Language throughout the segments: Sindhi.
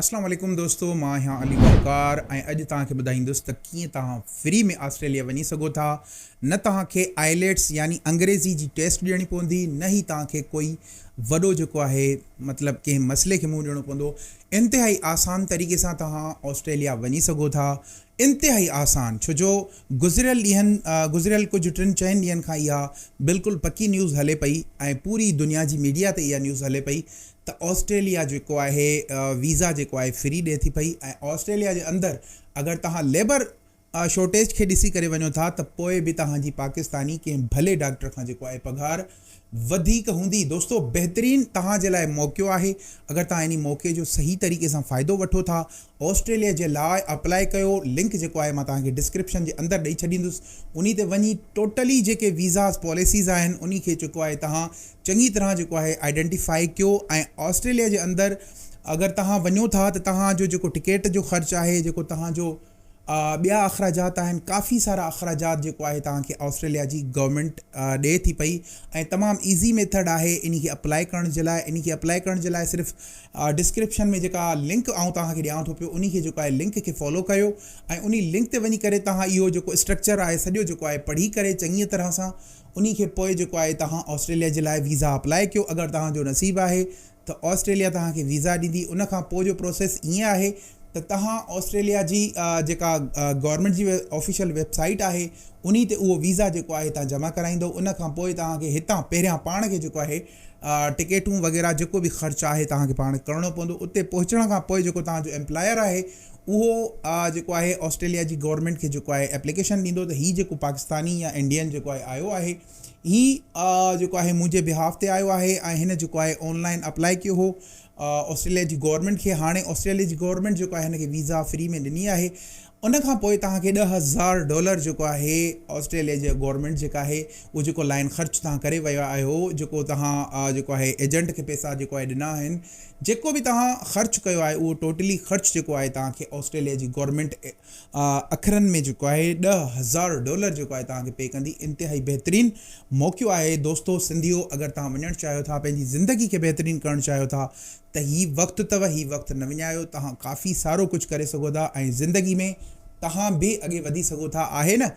اسلام عليڪم دوستو مان آهيان علي وقار ۽ اڄ توهان کي ٻڌائيندس ته ڪيئن توهان فري ۾ آسٽريليا وڃي سگهو ٿا نه توهان کي آئليٽس يعني انگريزي جي ٽيسٽ ڏيڻي پوندي نه هي توهان کي ڪوئي وڏو جيڪو آهي مطلب ڪنهن مسئلي کي منهن ڏيڻو پوندو انتهائي آسان طريقي سان توهان آسٽريليا وڃي سگهو ٿا انتهائي آسان ڇو جو گذريل ڏينهن گذريل ڪجهه ٽن چئن ڏينهن کان اها بلڪل پڪي نيوز هلي پئي ۽ پوري دنيا جي ميڊيا تي اها نيوز هلي پئي ته آسٽريليا جيڪو آهي ويزا جيڪو آهي فري ڏي ٿي پئي ۽ آسٽريليا جي اندر اگر توهان ليبر شورٽيج کي ڏسي ڪري وڃو ٿا ته پوء به توهان جي پاڪستاني ڪنهن ڀلي ڊاڪٽر کان جيڪو آهي پگهار وڌيڪ هوندي دوستو بهترين توهان جي لاء موقعو آهي اگر توهان انهي موقعي جو صحيح طريقي سان فائدو وٺو ٿا آسٽريليا جي لاء اپلائي ڪيو لنڪ جيڪو آهي مان توهان کي ڊسڪرپشن جي اندر ڏئي ڇڏيندس انهي تي وڃي ٽوٽلي جيڪي ويزاز پاليسيز آهن انهي کي جيڪو آهي تهان چڱي طرح جيڪو آهي آئيڊينٽيفائي ڪيو ۽ آسٽريليا جي اندر اگر تهان وڃو ٿا ته تهان جو جيڪو ٽڪيٽ جو خرچ آهي جيڪو تهان جو ٻيا اخراجات آهن ڪافي سارا اخراجات جيڪو آهي توهان کي آسٽريليا جي گورنمينٽ ڏئي ٿي پئي ۽ تمام ايزي ميٿڊ آهي انهي کي اپلائي ڪرڻ جي لاء انهي کي اپلائي ڪرڻ جي لاء صرف ڊسڪرپشن ۾ جيڪا لنڪ آئون توهان کي ڏيان ٿو پيو انهي کي جيڪو آهي لنڪ کي فالو ڪيو ۽ انهي لنڪ تي وڃي ڪري توهان اهو جيڪو اسٽرڪچر آهي سڄو جيڪو آهي پڙهي ڪري چڱي طرح سان انهي کي پوء جيڪو آهي توهان آسٽريليا جي لاء ويزا اپلاء ڪيو اگر توهان جو نصيب آهي ته آسٽريليا توهان کي ويزا ڏيندي ان کان پوء جو پروسيس ائين آهي ته توهان آسٽريليا جي جيڪا گورنمينٽ جي آفيشل ويب سائيٽ آهي انهي تي اهو ويزا جيڪو آهي توهان جمع ڪرائيندو ان کان پوء توهان کي هتان پهريان پاڻ کي جيڪو آهي ٽڪيٽون وغيره جيڪو به خرچ آهي توهان کي پاڻ ڪرڻو پوندو اتي پهچڻ کان پوء جيڪو توهان جو ايمپلاير آهي اهو جيڪو آهي آسٽريليا جي گورنمينٽ کي جيڪو آهي ايپليڪيشن ڏيندو ته هي جيڪو پاڪستاني يا انڊين جيڪو آهي آيو آهي هي جيڪو آهي منهنجي بهاف تي آيو آهي ۽ هن جيڪو آهي آنلائن اپلائي ڪيو هو آسٽريليا جي گورنمينٽ کي هاڻي آسٽريليا جي گورنمينٽ جيڪو آهي هن کي ويزا فري ۾ ڏني آهي ان کان پوء توهان کي ڏهه هزار ڊالر جيڪو آهي آسٽريليا جي گورنمينٽ جيڪا آهي اهو جيڪو لائين خرچ توهان ڪري ويا آهيو جيڪو توهان جيڪو آهي ايجنٽ کي پيسا جيڪو آهي ڏنا آهن جيڪو به توهان خرچ ڪيو آهي اهو ٽوٽلي خرچ جيڪو آهي توهان کي آسٽريليا جي گورنمينٽ اکرن ۾ جيڪو آهي ڏهه هزار ڊالر جيڪو آهي توهان کي پي ڪندي انتهائي بهترين موقعو آهي دوستو سنڌيو اگر توهان وڃڻ چاهيو ٿا پنهنجي زندگي کي بهترين ڪرڻ چاهيو ٿا ته هي وقت اٿو هي وقت نه وڃايو توهان ڪافي سارو ڪجهه ڪري سگهو ٿا ۽ زندگي ۾ توهان به اڳي وڌي سگهو ٿا آهي نه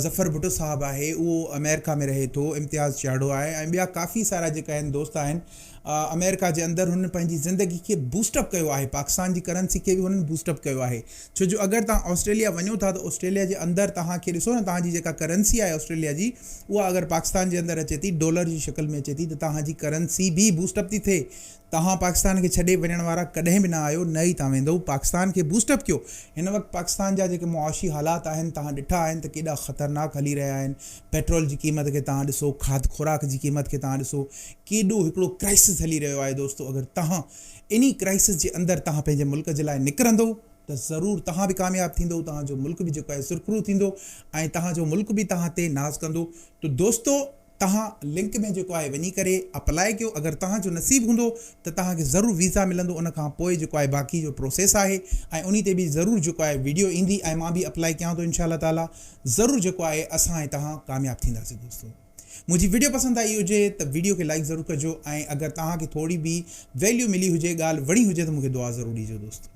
ظفر ڀٽو صاحب آهي اهو امريڪا ۾ رهي ٿو امتياز چياڙو آهي ۽ ٻيا ڪافي سارا جيڪا هن دوست آهن امريڪا جي اندر هن پنهنجي زندگي کي بوسٽ اپ ڪيو آهي پاڪستان جي ڪرنسي کي به هن بوسٽ اپ ڪيو آهي ڇو جو اگر توهان آسٽريليا وڃو ٿا ته آسٽريليا جي اندر توهان کي ڏسو نه توهان جي جيڪا ڪرنسي آهي آسٽريليا جي اها اگر پاڪستان جي اندر اچي ٿي ڊالر جي شڪل ۾ اچي ٿي ته توهان جي ڪرنسي به بوسٽ اپ ٿي ٿئي توهان پاڪستان کي ڇڏي وڃڻ وارا ڪڏهن به نه آهيو نه ئي توهان ويندئو پاڪستان کي بوسٽ اپ ڪيو هن وقت پاڪستان جا جيڪي معاشي حالات آهن توهان ڏٺا آهن ته ڪيڏا خطرناڪ هلي رهيا آهن پيٽرول جي قيمت کي توهان ڏسو کاڌ خوراڪ جي قيمت کي توهان ڏسو ڪيڏو هڪڙو ڪرائسس هلي رهيو آهي دوستو اگر توهان انهي ڪرائسس جي اندر توهان پنهنجي ملڪ جي لاء نڪرندئو ته ضرور توهان به ڪامياب ٿيندئو توهان جو ملڪ به جيڪو آهي سرخرو ٿيندو ۽ توهان جو ملڪ به توهان تي ناز ڪندو ته دوستو توهان لنڪ ۾ جيڪو آهي وڃي ڪري اپلائي ڪيو اگر توهان جو نصيب هوندو ته توهان کي ضرور ويزا ملندو ان کان پوء جيڪو آهي باقي جو پروسيس آهي ۽ انهي تي به ضرور جيڪو آهي ويڊيو ايندي ۽ مان به اپلائي ڪيان ٿو انشاء الله تعالي ضرور جيڪو آهي اسان ۽ توهان ڪامياب ٿينداسين دوستو منهنجي ويڊيو پسند آئي هجي ته ويڊيو کي لائڪ ضرور ڪجو ۽ اگر توهان کي ٿوري به ويليو ملي هجي ڳالهه وڻي هجي ته مون کي دعا ضرور ڏيجو دوستو.